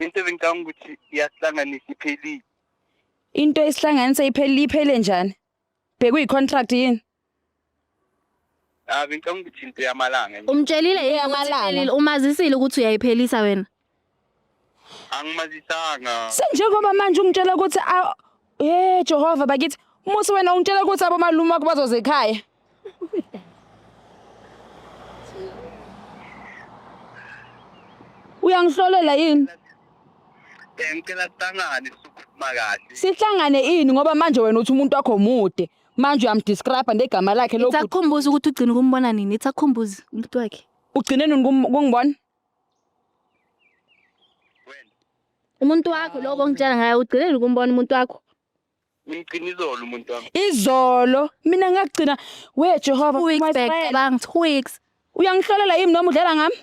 Into ebengicabanga ukuthi iyasihlanganisa iphelile. Into esihlanganisa iphelile iphele njani? Bhekuyi contract yini? Ah bengicabanga ukuthi into yamalanga nje. Umtshelile yini ukuthi Eyamalanga. iphelile? umazisile ukuthi uyayiphelisa wena Angimazisanga. Senjengoba manje ungitshela ukuthi a- Eh Jehova bakithi muthi wena ungitshela ukuthi abomalume wakho bazoza ekhaya. Uyangihlolela yini? Eh ngicela sihlangane sokukhuluma kahle. Sihlangane ini ngoba manje wena uthi umuntu wakho mude. Manje uyamdescribe ngegama lakhe lokhu. Itsakhumbuza ukuthi ugcina ukumbona nini? Itsakhumbuza umuntu wakhe. Ugcine nini kum- kungibona? Umuntu wakho lokho ongitshela ngayo ugcinele ukumbona umuntu wakho. Ngigcina izolo umuntu wami. Izolo mina ngagcina we Jehova Two weeks back cabanga two weeks. Uyangihlolela yimi noma udlela ngami?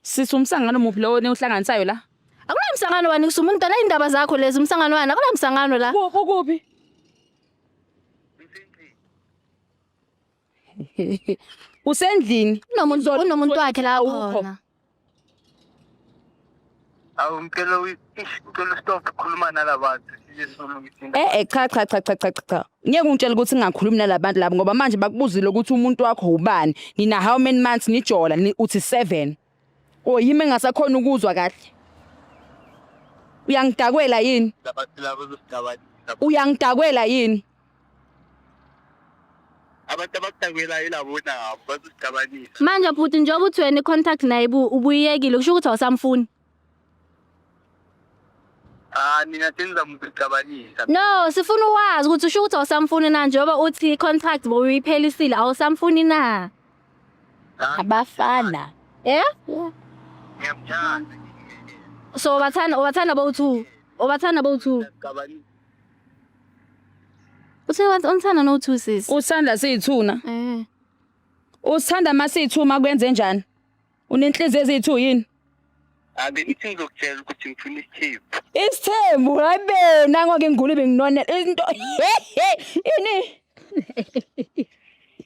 Sisi umsangano muphi lowo niwuhlanganisayo la? Akunamsangano wani kusuma umuntu dala indaba zakho lezi umsangano wani akunamsangano la. Kuphi kuphi? Usendlini. Kunomuntu Ngizolo- kunomuntu wakhe la Awukho. khona. Awu ngicela uyi- ish, ngicela stop khuluma nalabantu. Siyesulu ngithinta. Eh eh cha cha cha cha cha cha, cha. Ngeke ungitshele ukuthi ngingakhulumi nalabantu labo ngoba manje bakubuzile ukuthi umuntu wakho ubani. Nina how many months nijola ni uthi 7. O yimi engasakhona ukuzwa kahle. Uyangidakwela yini? Uyangidakwela yini? abantu abakudakwelayo ilabo nabo bazosicabanisa Manje bhuti njengoba uthi wena i-contact naye bu- ubuyiyekile kusho ukuthi awusamfuni. Ah nina senza mcabanisa. No, sifuna uwazi ukuthi usho ukuthi awusamfuni na njengoba uthi contract bowuyiphelisile awusamfuni na. Abafana. Eh? Ngiyamthanda. So ubathanda ubathanda bowu2. Ubathanda bowu2. Mcabanisa. Uthe wathi unthanda no2 sis. Usithanda siyithuna. Eh. Usithanda masiyithuma kwenze njani? Unenhliziyo ezithu yini? Abe ithi ngizokutshela ukuthi ngifuna isithembu. Isithembu hayi be nango ke ngigula benginone into ini?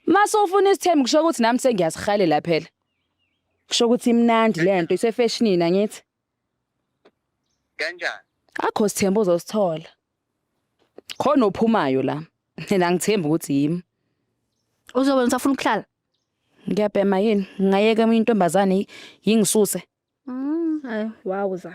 Mase ufuna isithembu kusho ukuthi nami sengiyasihalela phela. Kusho ukuthi imnandi lento isefashionini angithi. Kanjani? Akho sithembu ozosithola. Khona ophumayo la. Mina ngithemba ukuthi yimi. Uzobona usafuna ukuhlala. Ngiyabhema yini? Ngingayeka eminye intombazane yingisuse. Mm, hayi wawuza.